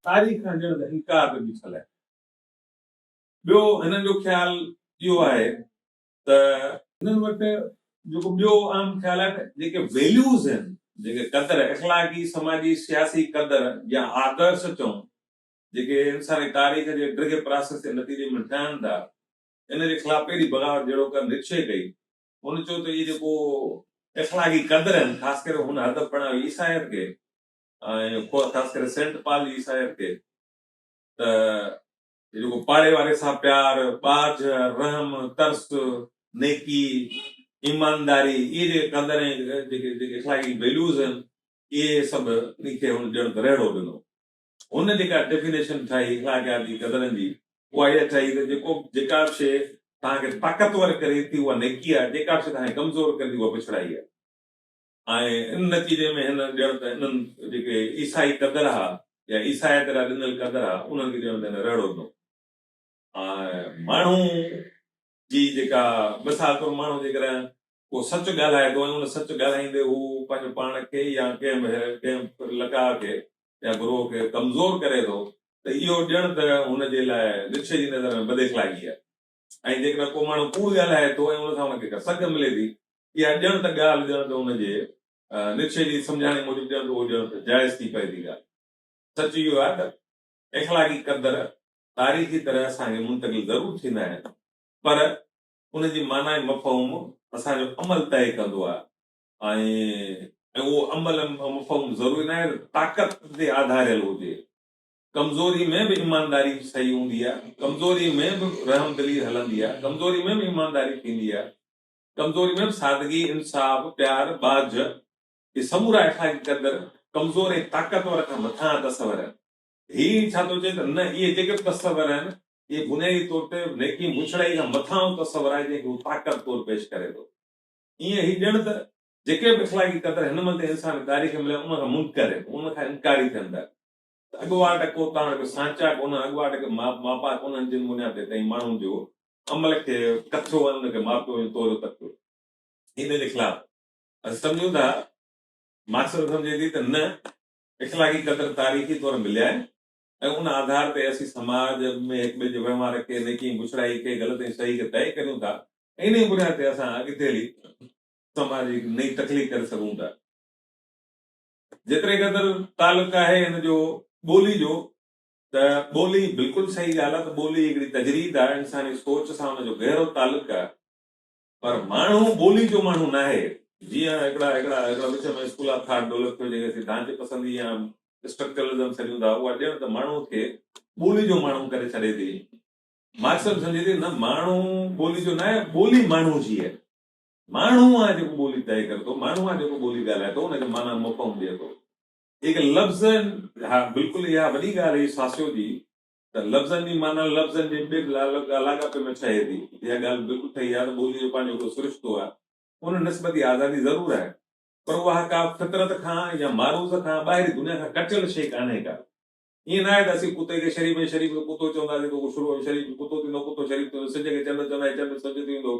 تاريخ هجڻ ته انڪار ته ڏسڻ لائق آهي. ٻيو هنن جو خيال اهو آهي ته هنن وٽ جيڪو ٻيو عام خيال آهي ته جيڪي ويليوز آهن، جيڪي قدر، اخلاقي، سماجي، سياسي قدر يا آدرش چئون، جيڪي انساني تاريخ جي ڊگهي پراسيس جي نتيجي ۾ ٺهن ٿا، ان جي خلاف پهرين بغاوت جهڙوڪر نٽشي ڪئي. هن چيو ته اهي جيڪو اخلاقي قدر آهن، خاص ڪري هن هدف بڻايو عيسائيت کي، ۽ خاص ڪري سينٽ پال جي عيسائيت کي ته جيڪو پاڙي واري سان پيار، ٻاجهه، رحم، ترس، نيڪي، ايمانداري، اهي جيڪي قدر ۽ جيڪي جيڪي اخلاقي ويليوز آهن، اهي سڀ ان کي هن ڄڻ ته رهڙو ڏنو. هن جيڪا ڊيفينيشن ٺاهي اخلاقياتي قدرن جي، اها اها ٺاهي ته جيڪو به جيڪا به شيء توهان کي طاقتور ڪري ٿي، اها نيڪي آهي، جيڪا به شيء توهان کي ڪمزور ڪري ٿي، اها پڇڙائي آهي. ۽ ان نتيجي ۾ هن ڄڻ ته انهن جيڪي عيسائي قدر ها يا عيسائيت لاء ڏنل قدر ها انهن کي ڄڻ ته هن رهڙو ڏنو ۽ ماڻهو جي جيڪا مثال طور ماڻهو جيڪڏهن ڪو سچ ڳالهائي ٿو ۽ ان سچ ڳالهائيندي هو پنهنجو پاڻ کي يا ڪنهن به ڪنهن فرلقاء کي يا گروهه کي ڪمزور ڪري ٿو ته اهو ڄڻ ته هن جي لاء نڇي جي نظر ۾ بداخلاقي آهي ۽ جيڪڏهن ڪو ماڻهو ڪوڙ ڳالهائي ٿو ۽ ان سان ان کي ڪا سگهه ملي ٿي، اها ڄڻ ته ڳالهه، ڄڻ ته ان جي، نيتشي جي سمجهاڻي موجب ڄڻ ته اهو ڄڻ ته جائز ٿي پئي ٿي ڳالهه. سچ اهو آهي ته اخلاقي قدر تاريخي طرح اسان کي منتقل ضرور ٿيندا آهن، پر ان جي معنيٰ ۽ مفهوم اسان جو عمل طئي ڪندو آهي ۽ اهو عمل ۽ مفهوم ضروري ناهي ته طاقت تي آڌاريل هجي. ڪمزوري ۾ به ايمانداري صحيح هوندي آهي، ڪمزوري ۾ به رحمدلي هلندي آهي، ڪمزوري ۾ به ايمانداري ٿيندي آهي، ڪمزوري ۾ به سادگي، انصاف، پيار، ٻاجهه، اهي سمورا اخلاقي قدر ڪمزور ۽ طاقتور کان مٿانهان تصور آهن. هي ڇا ٿو چئي ته نه اهي جيڪي به تصور آهن، اهي بنيادي طور تي نيڪي مڇڙائي کان مٿانهون تصور آهي جنهن کي هو طاقت طور پيش ڪري ٿو. ايئن هي ڄڻ ته جيڪي به اخلاقي قدر هن مهل تائين انسان کي تاريخ ۾ مليا آهن ان کان منڪر آهن، ان کان انڪاري ٿين ٿا. اڳواٽ ڪو تاڻ ڪو سانچا ڪونهن، اڳواٽ ڪي ماپا ڪونهن، جن منهن تي تئين ماڻهن جو عمل کي ڪٿيو ۽ ان کي ماپيو ۽ توريو تڪيو. ان جي خلاف اسين سمجهون ٿا، مارڪسزم سمجهي ٿي ته نه اخلاقي قدر تاريخي طور مليا آهن ۽ ان آڌار تي اسين سماج ۾ هڪ ٻئي جي وهنوار کي، نيڪي ۽ بڇڙائي کي، غلط ۽ صحيح کي طئي ڪريون ٿا ۽ ان جي بنياد تي اسان اڳتي هلي سماج جي هڪ نئين تخليق ڪري سگهون ٿا. جيتري قدر تعلق آهي هن جو ٻولي جو ته ٻولي بلڪل صحيح ڳالهه آهي ته ٻولي هڪڙي تجريد آهي انساني سوچ سان ان جو گهرو تعلق آهي پر ماڻهو ٻولي جو ماڻهو ناهي جيئن هڪڙا هڪڙا هڪڙا وچ ۾ اسڪول آف ٿاٽ ڊولپ ٿيو جيڪي اسين ڍانچي پسندي يا اسٽرڪچرلزم سڏيون ٿا اها ڄڻ ته ماڻهو کي ٻولي جو ماڻهو ڪري ڇڏي ٿي مارڪسم سمجهي ٿي نه ماڻهو ٻولي جو ناهي ٻولي ماڻهو جي آهي ماڻهو آهي جيڪو ٻولي طئي ڪري ٿو، ماڻهو آهي جيڪو ٻولي ڳالهائي ٿو، ان کي معنيٰ مفهوم ڏئي ٿو. جيڪي لفظ آهن، ها بلڪل اها وڏي ڳالهه هئي ساسيو جي ته لفظن جي معنيٰ لفظن جي ٻيٽ لاڳاپي ۾ ٺهي ٿي. اها ڳالهه بلڪل ٺهي آهي ته ٻوليء جو پنهنجو هڪڙو سرشتو آهي. ان نسبت ئي آزادي ضرور آهي، پر اها ڪا فطرت کان يا معروض کان، ٻاهرين دنيا کان ڪٽيل شيء ڪانهي ڪا. ائين ناهي ته اسين ڪتي کي شريف ۽ شريف کي ڪتو چونداسين ته اهو شريف ٿيندو ڪتو شريف ٿيندو، سج کي چنڊ چونداسين چنڊ سج ٿيندو.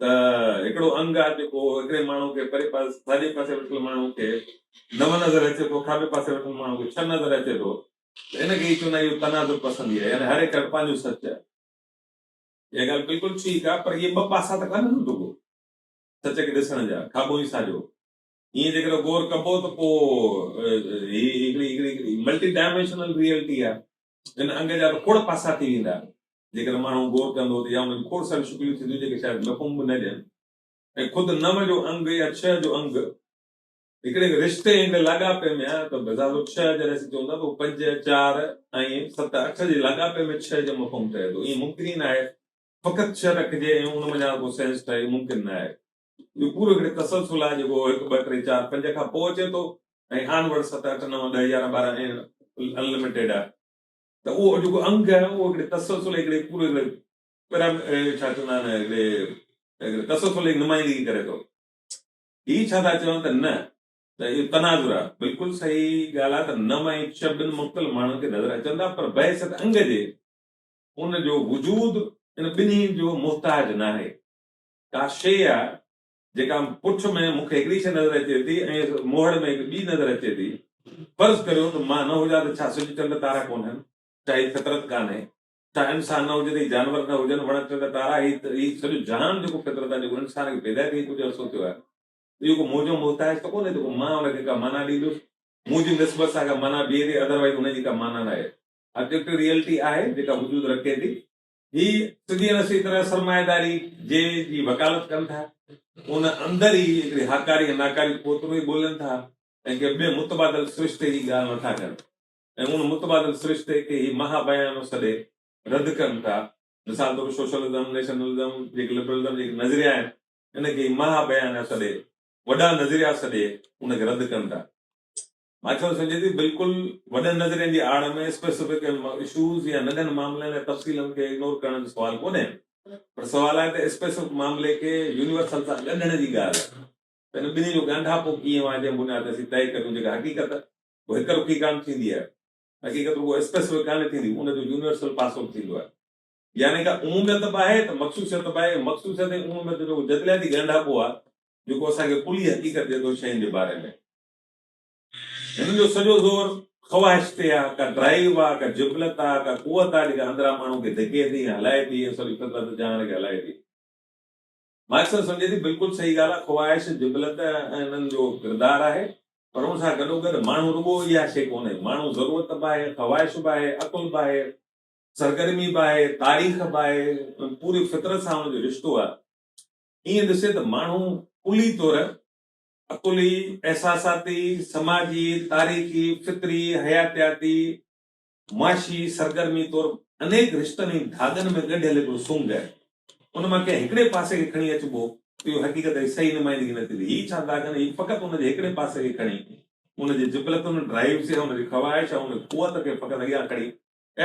ته هڪڙو انگ آهي جيڪو هڪڙي ماڻهو کي پري پاسي ساڄي پاسي ويٺل ماڻهو کي نو نظر اچي ٿو کاٻي پاسي ويٺل ماڻهو کي ڇهه نظر اچي ٿو ته ان کي چون اهو تناظر پسندي آهي يعني هر هڪ وٽ پنهنجو سچ آهي اها ڳالهه بلڪل ٺيڪ آهي پر اهي ٻه پاسا ته ڪانهن رڳو سچ کي ڏسڻ جا کاٻو ۽ ساڄو ائين جيڪڏهن غور ڪبو ته پوء هي هڪڙي هڪڙي ملٽي ڊائميشنل ريئلٽي آهي هن انگ جا به کوڙ پاسا ٿي ويندا، جيڪڏهن ماڻهو غور ڪندو ته يا ان جون کوڙ ساريون شڪليون ٿينديون جيڪي شايد مفهوم به نه ڏين ۽ خود نو جو انگ يا ڇهه جو انگ هڪڙي رشتي هڪڙي لاڳاپي ۾ آهي ته بظاهر اهو ڇهه جڏهن اسين چون ٿا ته اهو پنج، چار ۽ ست، اٺ جي لاڳاپي ۾ ڇهه جو مفهوم ٺهي ٿو. ائين ممڪن ئي ناهي فقط ڇهه رکجي ۽ ان منجهان ڪو سينس ٺهي، ممڪن ناهي. اهو پورو هڪڙي تسلسل آهي جيڪو هڪ ٻه ٽي چار پنج کان پوء اچي ٿو ۽ آن ورڊ ست اٺ نو ڏهه يارهن ٻارهن ائين انلميٽيڊ آهي ته اهو جيڪو انگ آهي اهو هڪڙي تسلسل هڪڙي پورو هڪڙي پيرا ڇا چوندا آهن هڪڙي هڪڙي تسلسل جي نمائندگي ڪري ٿو هي ڇا ٿا چون ته نه ته اهو تناظر آهي بلڪل صحيح ڳالهه آهي ته نم ۽ چ ٻن مختلف ماڻهن کي نظر اچن ٿا پر بحثيت انگ جي ان جو وجود ان ٻنهي جو محتاج ناهي ڪا شيء آ جيڪا پٺ ۾ مون کي هڪڙي شيء نظر اچي ٿي ۽ موهڙ ۾ هڪ ٻي نظر اچي ٿي. فرض ڪريو ته مان نه هجان ته ڇا سج چنڊ تارا ڪونهن؟ ڇا هي فطرت ڪانهي؟ ڇا انسان نه هجي ته هي جانور نه هجن، وڻ ٽڻ تارا هي هي سڄو جهان جيڪو فطرت آ، جيڪو انسان کي پيدا ٿئي ڪجهه عرصو ٿيو آهي، اهو ڪو مون جو محتاج ته ڪونهي جيڪو مان ان کي ڪا معنيٰ ڏيندس؟ مون جي نسبت سان ڪا معنيٰ بيهي ٿي ادروائيز ان جي ڪا معنيٰ ناهي. آبجيڪٽو ريئلٽي آهي جيڪا وجود رکي ٿي. هي سڌي ۽ نسي طرح سرمائيداري جي جي وڪالت ڪن ٿا، ان اندر ئي هڪڙي هاڪاري ۽ ناڪاري قوت ۾ ئي ٻولين ٿا ۽ ڪنهن ٻئي متبادل سرشتي جي ڳالهه نٿا ڪن ۽ ان متبادل سرشتي کي هي مها بيانو سڏي رد ڪن ٿا. مثال طور سوشلزم، نيشنلزم جيڪي لبرلزم جيڪي نظريا آهن، ان کي هي مها بيانيا سڏي، وڏا نظريا سڏي، ان کي رد ڪن ٿا. مان چئو سگهجي ٿي بلڪل وڏن نظرين جي آڙ ۾ اسپيسفڪ اشوز يا ننڍن معاملن ۽ تفصيلن کي اگنور ڪرڻ جو سوال ڪونهي پر سوال آهي ته اسپيسفڪ معاملي کي يونيورسل سان ڳنڍڻ جي ڳالهه ته ان ٻنهي جو ڳانڍاپو ڪيئن واهه جنهن بنياد تي اسين طئي ڪريون جيڪا حقيقت اهو هڪ رخي ڪانه ٿيندي آهي حقيقت رڳو اسپيسفڪ ڪانه ٿيندي ان جو يونيورسل پاسو به ٿيندو آهي يعني ڪا عموميت به آهي ته مخصوصيت به آهي مخصوصيت ۽ عموميت جو جدلياتي ڳانڍاپو آهي جيڪو اسان کي ڪلي حقيقت ڏي ٿو شين جي باري ۾. هنن جو سڄو زور خواهش تي آ، ڪا ڊرائيو آ، ڪا جبلت آ، ڪا قوت آ جيڪا اندران ماڻهو کي ڌڪي ٿي ۽ هلائي ٿي ۽ سڄي فطرت جهان کي هلائي ٿي. مان اڪثر سمجهي ٿي بلڪل صحيح ڳالهه آ، خواهش، جبلت انهن جو ڪردار آهي پر ان سان گڏوگڏ ماڻهو رڳو اها شيء ڪونهي، ماڻهو ضرورت به آهي، خواهش به آهي، عقل به آهي، سرگرمي به آهي، تاريخ به آهي ۽ پوري فطرت سان هن جو رشتو آ. ائين ڏسي ته ماڻهو ڪلي طور عقلي، احساساتي، سماجي، تاريخي، فطري، حياتياتي، معاشي سرگرمي طور انيڪ رشتن ۽ ڌاڳن ۾ ڳنڍيل هڪڙو سنگ آهي. ان مان ڪنهن هڪڙي پاسي کي کڻي اچبو ته اهو حقيقت جي صحيح نمائندگي نه ٿيندي. هي ڇا ڌاڳن هي فقط ان جي هڪڙي پاسي کي کڻي ان جي جبلتن، ڊرائيوز يا ان جي خواهش يا ان جي قوت کي فقط اڳيان کڻي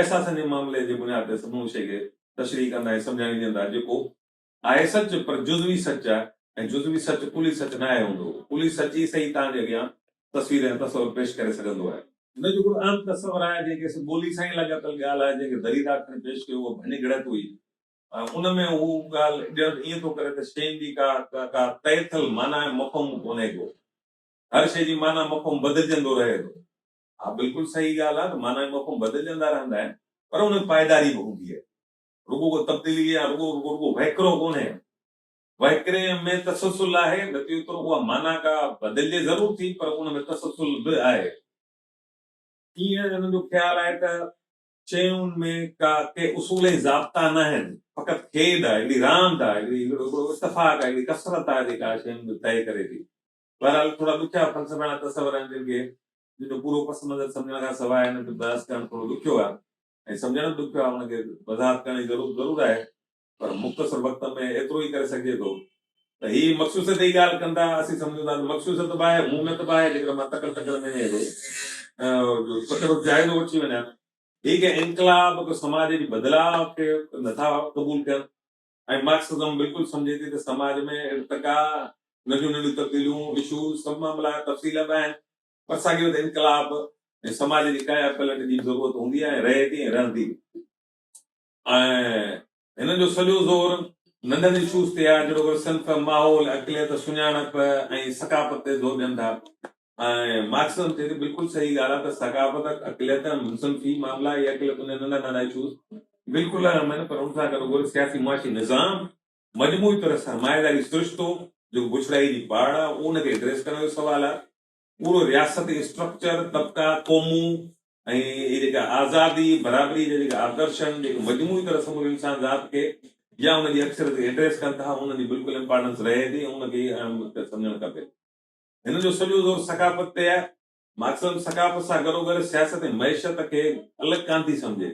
احساسن جي معاملي جي بنياد تي سموري شيء کي تشريح ڪندا ۽ سمجهاڻي ڏيندا جيڪو آهي سچ، پر جزوي سچ آهي ۽ جزوي سچ ڪلي سچ ناهي هوندو. ڪلي سچ ئي سهي توهان جي اڳيان تصوير ۽ تصور پيش ڪري سگهندو آهي. هن جو هڪڙو اهم تصور آهي، جنهن کي سي ٻولي سان ئي لاڳاپيل ڳالهه آهي، جنهن کي دريدا کڻي پيش ڪيو اها ڀڃ گڙهت هئي. ان ۾ هو ڳالهه ڄڻ ائين ٿو ڪري ته شين جي ڪا ڪا طئي ٿيل معنيٰ ۽ مفهوم ڪونهي ڪو. هر شيء جي معنيٰ مفهوم بدلجندو رهي ٿو. اها بلڪل سهي ڳالهه آهي ته معنيٰ ۽ مفهوم بدلجندا رهندا آهن، پر ان ۾ پائيداري به هوندي آهي. رڳو ڪو تبديلي يا رڳو رڳو رڳو وهڪرو ڪونهي. وهڪري ۾ تسلسل آهي، نتي اوترو اها معنيٰ ڪا بدلجي ضرور ٿي، پر ان ۾ تسلسل به آهي. ايئن انهن جو خيال آهي ته شين ۾ ڪا ڪي اصول ۽ ضابطا ناهن، فقط کيڏ آهي، هڪڙي راند آهي، هڪڙي هڪڙو هڪڙو اتفاق آهي، هڪڙي ڪثرت آهي جيڪا شين جو طئي ڪري ٿي. بهرحال ٿورا ڏکيا فلسفياڻا تصور آهن جن کي جن جو پورو پس منظر سمجهڻ کان سواء انهن کي برداشت ڪرڻ ٿورو ڏکيو آهي. ۽ سمجهڻ به ڏکيو آهي ان کي وضاحت ڪرڻ جي ضرورت ضرور آهي پر مختصر وقت ۾ ايترو ئي ڪري سگهجي ٿو ته هي مخصوصيت جي ڳالهه ڪن ٿا اسين سمجهون ٿا ته مخصوصيت به آهي اهميت به آهي جيڪڏهن مان تڪڙ تڪڙ ۾ اهڙو سندس جائزو وٺي وڃان هي ڪنهن انقلاب ڪو سماج جي بدلاء کي نٿا قبول ڪن ۽ مارڪسزم بلڪل سمجهي ٿي ته سماج ۾ ارتقا ننڍيون ننڍيون تبديليون اشوز سڀ معاملا تفصيل به آهن پر ساڳي وقت انقلاب ۽ سماج جي ڪايا پلٽ جي به ضرورت هوندي آهي ۽ رهي ٿي ۽ رهندي به. ۽ هن جو سڄو زور ننڍن اشوز تي آهي جهڙوڪر صنف، ماحول، اقليت، سڃاڻپ ۽ ثقافت تي زور ڏين ٿا ۽ مارڪسزم چئي ٿو بلڪل صحيح ڳالهه آهي ته ثقافت، اقليت، صنفي معاملا يا اقليتن جا ننڍا ننڍا اشوز بلڪل اهم آهن پر ان سان گڏوگڏ سياسي معاشي نظام مجموعي طور سرمائيداري سرشتو جيڪو بڇڙائي جي باڙ آ ان کي ايڊريس ڪرڻ جو سوال آ. پورو رياستي اسٽرڪچر، طبقا، قومون ۽ هي جيڪا آزادي، برابري جا جيڪا آدرشن جيڪي مجموعي طور سموري انسان ذات کي يا ان جي اڪثريت کي ايڊريس ڪن ٿا انهن جي بلڪل امپارٽنس رهي ٿي ۽ ان کي ئي اهم مقصد سمجهڻ کپي. هن جو سڄو زور ثقافت تي آ. مارڪسزم ثقافت سان گڏوگڏ سياست ۽ معيشت کي الڳ ڪانٿي سمجهي.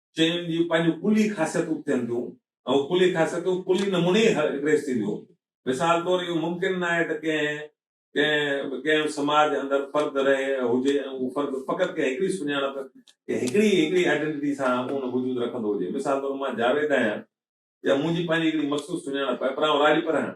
شين جي پنهنجون ڪلي خاصيتون ٿين ٿيون ۽ اهي ڪلي خاصيتون ڪلي نموني ئي ايڪريس ٿينديون. مثال طور اهو ممڪن ناهي ته ڪنهن ڪنهن ڪنهن سماج اندر فرد رهي ۽ هجي ۽ اهو فرد فقط ڪنهن هڪڙي سڃاڻپ، ڪنهن هڪڙي هڪڙي آئيڊينٽي سان اونهه وجود رکندو هجي. مثال طور مان جاويد آهيان يا منهنجي پنهنجي هڪڙي مخصوص سڃاڻپ آهي پر آئون راڄپر آهيان.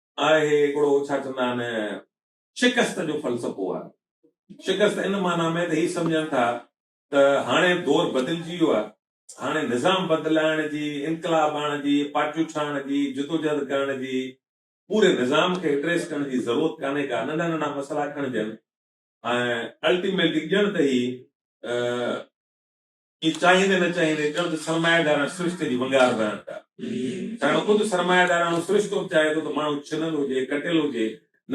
آهي هڪڙو ڇا چوندا آهن شڪست جو فلسفو آهي. شڪست ان معنيٰ ۾ ته هي سمجهن ٿا ته هاڻي دور بدلجي ويو آهي، هاڻي نظام بدلائڻ جي، انقلاب آڻڻ جي، پارٽيون ٺاهڻ جي، جدوجهد ڪرڻ جي، پوري نظام کي ايڊريس ڪرڻ جي ضرورت ڪانهي ڪا، ننڍا ننڍا مسئلا کڻجن ۽ الٽيميٽلي ڄڻ ته هي جي چاهيندي نه چاهيندي جلد سرمائيدارڻ سرشتي جي ونگار بڻڻ پيا ڇاڪاڻ خود سرمائيدارڻو سرشتو به چاهي ٿو ته ماڻهو ڇنل هجي، ڪٽيل هجي،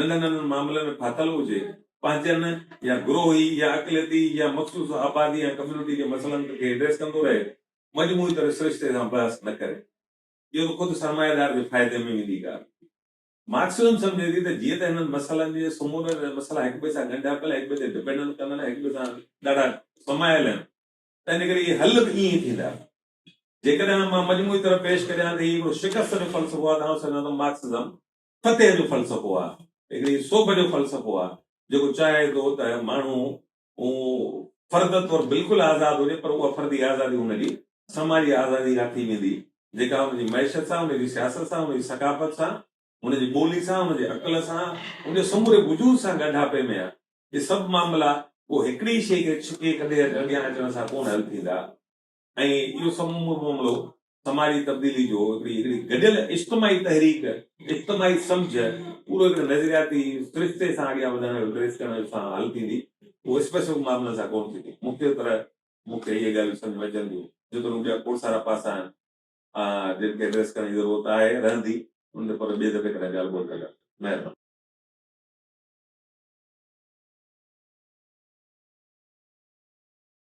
ننڍن ننڍن معاملن ۾ ڦاٿل هجي، پنهنجن يا گروهي يا اقليتي يا مخصوص آبادي يا ڪميونٽي جي مسئلن کي ايڊريس ڪندو رهي، مجموعي طرح سرشتي سان بحث نه ڪري. اهو ته خود سرمائيدار جي فائدي ۾ ويندي ڳالهه. مارڪسزم سمجهي ٿي ته جيئن ته هنن مسئلن جي سمورن ۽ مسئلا هڪ ٻئي سان ڳنڍيا پيل، هڪ ٻئي تي ڊپينڊنٽ ڪندڙ ۽ هڪ ٻئي سان ڏاڍا سمايل آهن ته ان ڪري اهي حل به ائين ئي ٿيندا. جيڪڏهن مان مجموعي طرح پيش ڪريان ته هي هڪڙو شڪست جو فلسفو آهي ته آئون سمجهان ٿو مارڪسزم فتح جو فلسفو آهي. هڪڙي سوڀ جو فلسفو آهي جيڪو چاهي ٿو ته ماڻهو هو فرد طور بلڪل آزاد هجي پر اها فردي آزادي هن جي سماجي آزادي اها ٿي ويندي جيڪا هن جي معيشت سان، هن جي سياست سان، هن جي ثقافت سان، هن جي ٻولي سان، هن جي عقل سان، هن جي سموري وجود سان ڳنڍاپي ۾ آهي. اهي سڀ معاملا ڪو هڪڙي شيء کي ڇڪي ڪڍي اڳيان اچڻ سان ڪونه حل ٿيندا. ۽ اهو سمورو معاملو سماجي تبديلي جو هڪڙي هڪڙي گڏيل اجتماعي تحريڪ، اجتماعي سمجهه، پورو هڪڙي نظرياتي سرشتي سان اڳيان وڌڻ جو ٽريس ڪرڻ جو سان حل ٿيندي، اهو اسپيسفڪ معاملن سان ڪونه ٿيندي. مختلف طرح مون کي اهي ڳالهيون سمجهه ۾ اچن ٿيون، جيتوڻيڪ ٻيا کوڙ سارا پاسا آهن، جن کي ائڊريس ڪرڻ جي ضرورت آهي، رهندي، انهن تي پر ٻئي دفعي ڪڏهن ڳالهه ٻولهه ڪنداسين. مهرباني.